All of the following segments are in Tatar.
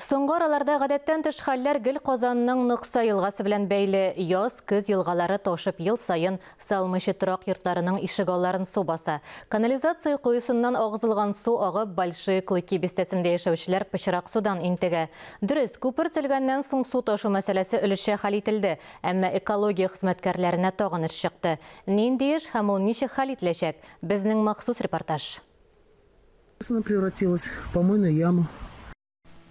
Соңгы араларда гадәттән тыш хәлләр гел Казанның Нокса елгасы белән бәйле. Яз, көз елгалары ташып ел саен салымчы торак йортларының ишегалларын су баса. Канализация коесыннан агызылган су агып Большие Клыки бистәсендә яшәүчеләр пычрак судан интегә. Дөрес, күпер төзелгәннән соң су ташу мәсьәләсе өлешчә хәл ителде, әмма экология хезмәткәрләренә тагын эш чыкты. Нинди эш һәм ул ничек хәл ителәчәк? Безнең махсус репортаж. Сына превратилась в помойную яму.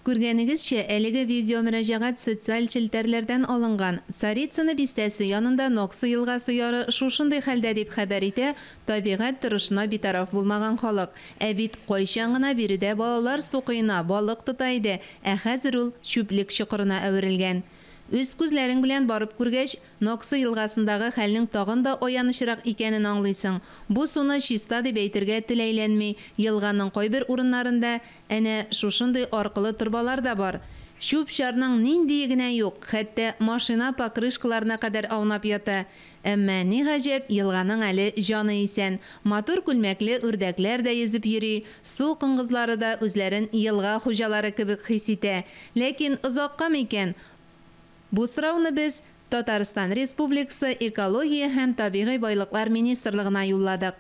Күргәнегезчә, әлеге видеомөрәҗәгать социаль челтәрләрдән алынган. Царицыно бистәсе янында Ноксы елгасы яры шушындый хәлдә, дип хәбәр итә табигать торышына битараф булмаган халык. Ә бит кайчан гына биредә балалар су коена, балык тота иде, ә хәзер ул чүплек чокырына әверелгән. Үз күзләрең белән барып күргәч, Ноксы елгасындагы хәлнең тагын да аянычрак икәнен аңлыйсың. Бу суны чиста дип әйтергә тел әйләнми, елганың кайбер урыннарында әнә шушындый аркылы торбалар да бар. Чүп-чарның ниндие генә юк, хәтта машина покрышкаларына кадәр аунап ята. Әмма, ни гаҗәп, елганың әле җаны исән. Матур күлмәкле үрдәкләр дә йөзеп йөри, су коңгызлары да үзләрен елга хуҗалары кебек хис итә. Ләкин озакка микән? Бу сорауны без Татарстан Республикасы Экология һәм табигый байлыклар министрлыгына юлладык.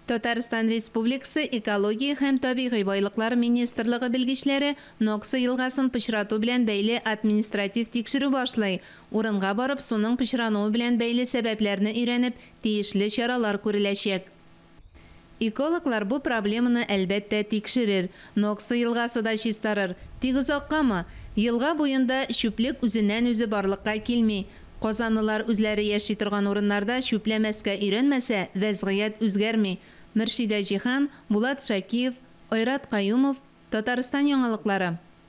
Татарстан Республикасы Экология һәм табигый байлыклар министрлыгы белгечләре Нокса елгасын пычрату белән бәйле административ тикшерү башлый, урынга барып суның пычрануы белән бәйле сәбәпләрне өйрәнеп, тиешле чаралар күреләчәк. Экологлар бу проблеманы, әлбәттә, тикшерер. Нокса елгасы да чистарыр. Тик озаккамы? Елга буенда чүплек үзеннән-үзе барлыкка килми. Казанлылар үзләре яши торган урыннарда чүпләмәскә өйрәнмәсә, вәзгыять үзгәрми. Мөршидә Җиһан, Булат Шакиев, Айрат Каюмов, Татарстан яңалыклары.